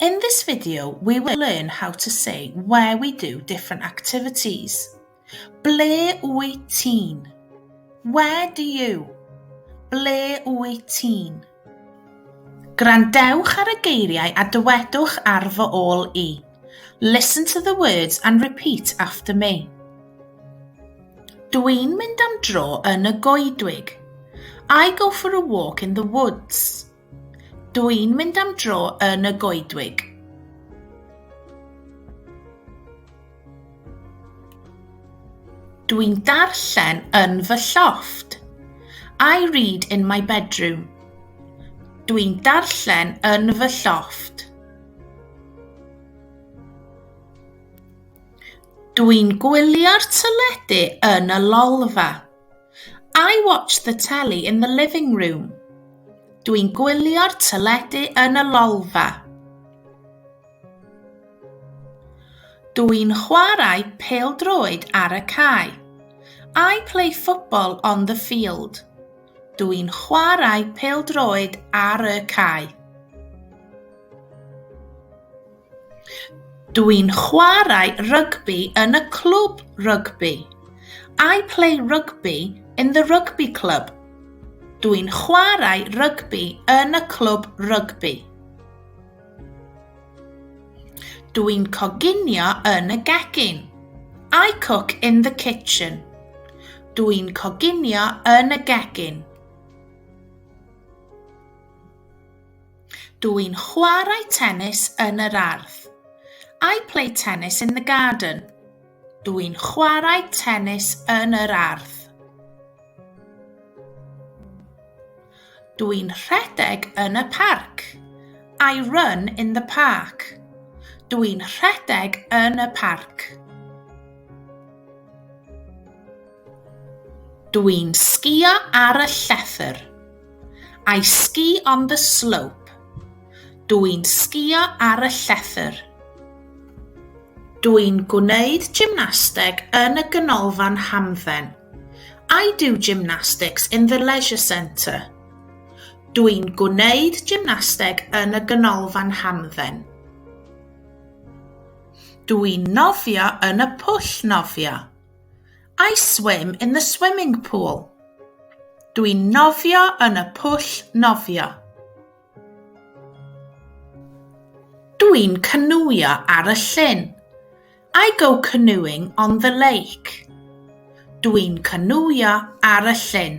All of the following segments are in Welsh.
In this video, we will learn how to say where we do different activities. Ble wyt ti'n? Where do you? Ble wyt ti'n? Grandewch ar y geiriau a dywedwch ar fy ôl i. Listen to the words and repeat after me. Dw i'n mynd am dro yn y goedwig. I go for a walk in the woods. Dw i'n mynd am dro yn y goedwig. Dw i'n darllen yn fy llofft. I read in my bedroom. Dw i'n darllen yn fy llofft. Dw i'n gwylio'r teledu yn y lolfa. I watch the telly in the living room. Dwi'n gwylio'r teledu yn y lolfa. Dwi'n chwarae pêl-droed ar y cae. I play football on the field. Dwi'n chwarae pêl-droed ar y cae. Dw i'n chwarae rygbi yn y clwb rygbi. I play rugby in the rugby club. Dw i'n chwarae rygbi yn y clwb rygbi. Dw i'n coginio yn y gegin. I cook in the kitchen. Dw i'n coginio yn y gegin. Dw i'n chwarae tennis yn yr ardd. I play tennis in the garden. Dw i'n chwarae tennis yn yr ardd. Dw i'n rhedeg yn y parc. I run in the park. Dw i'n rhedeg yn y parc. Dw i'n sgïo ar y llethr. I ski on the slope. Dw i'n sgïo ar y llethr. Dw i'n gwneud gymnasteg yn y ganolfan hamdden. I do gymnastics in the leisure centre. Dw i'n gwneud gymnasteg yn y ganolfan hamdden. Dw i'n nofio yn y pwll nofio. I swim in the swimming pool. Dwi'n nofio yn y pwll nofio. Dwi'n cynwio ar y llyn. I go canoeing on the lake. Dwi'n cynwio ar y llyn.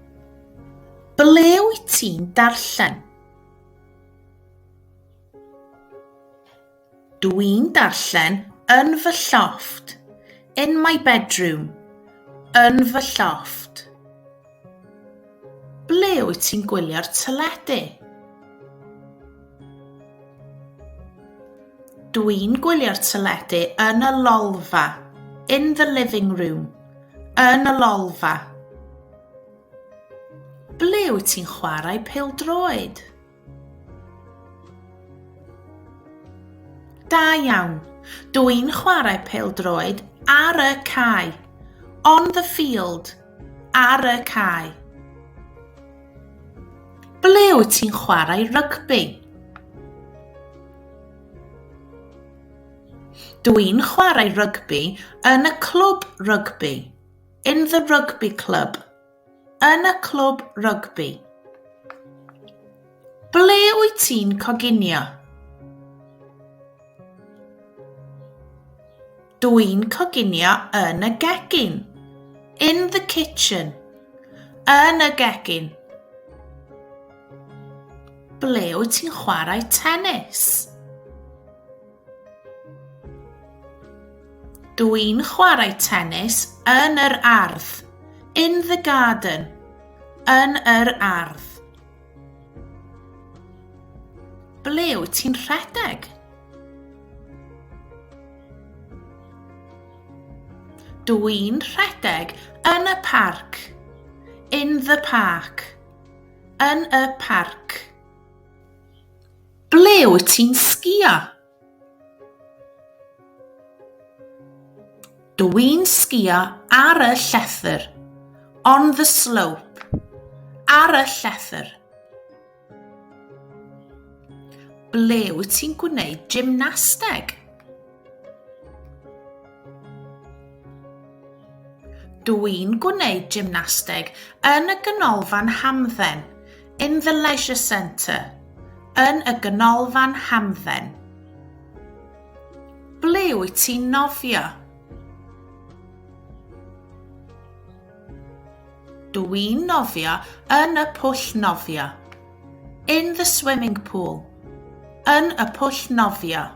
Ble wyt ti'n darllen? Dw i'n darllen yn fy llofft. In my bedroom. Yn fy llofft. Ble wyt ti'n gwylio'r teledu? Dw i'n gwylio'r teledu yn y lolfa. In the living room. Yn y lolfa. Ble wyt ti'n chwarae pêl-droed? Da iawn. Dw i'n chwarae pêl-droed ar y cae. On the field. Ar y cae. Ble wyt ti'n chwarae rygbi? Dw i'n chwarae rygbi yn y clwb rygbi, in the rugby club, yn y clwb rygbi. Ble wyt ti'n coginio? Dw i'n coginio yn y gegin, in the kitchen, yn y gegin. Ble wyt ti'n chwarae tennis? Dw i'n chwarae tennis yn yr ardd. In the garden. Yn yr ardd. Ble wyt ti'n rhedeg? Dw i'n rhedeg yn y parc. In the park. Yn y parc. Ble wyt ti'n sgïo? Dw i'n sgïo ar y llethr. On the slope. Ar y llethr. Ble wyt ti'n gwneud gymnasteg? Dw i'n gwneud gymnasteg yn y Ganolfan Hamdden, in the Leisure Centre, yn y Ganolfan Hamdden. Ble wyt ti'n nofio? Dw i'n nofio yn y pwll nofio, in the swimming pool, yn y pwll nofio.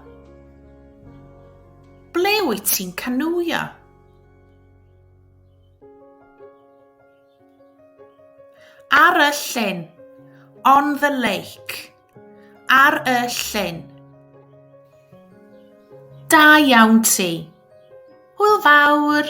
Ble wyt ti'n canwio? Ar y llyn. On the lake. Ar y llyn. Da iawn ti. Hwyl fawr.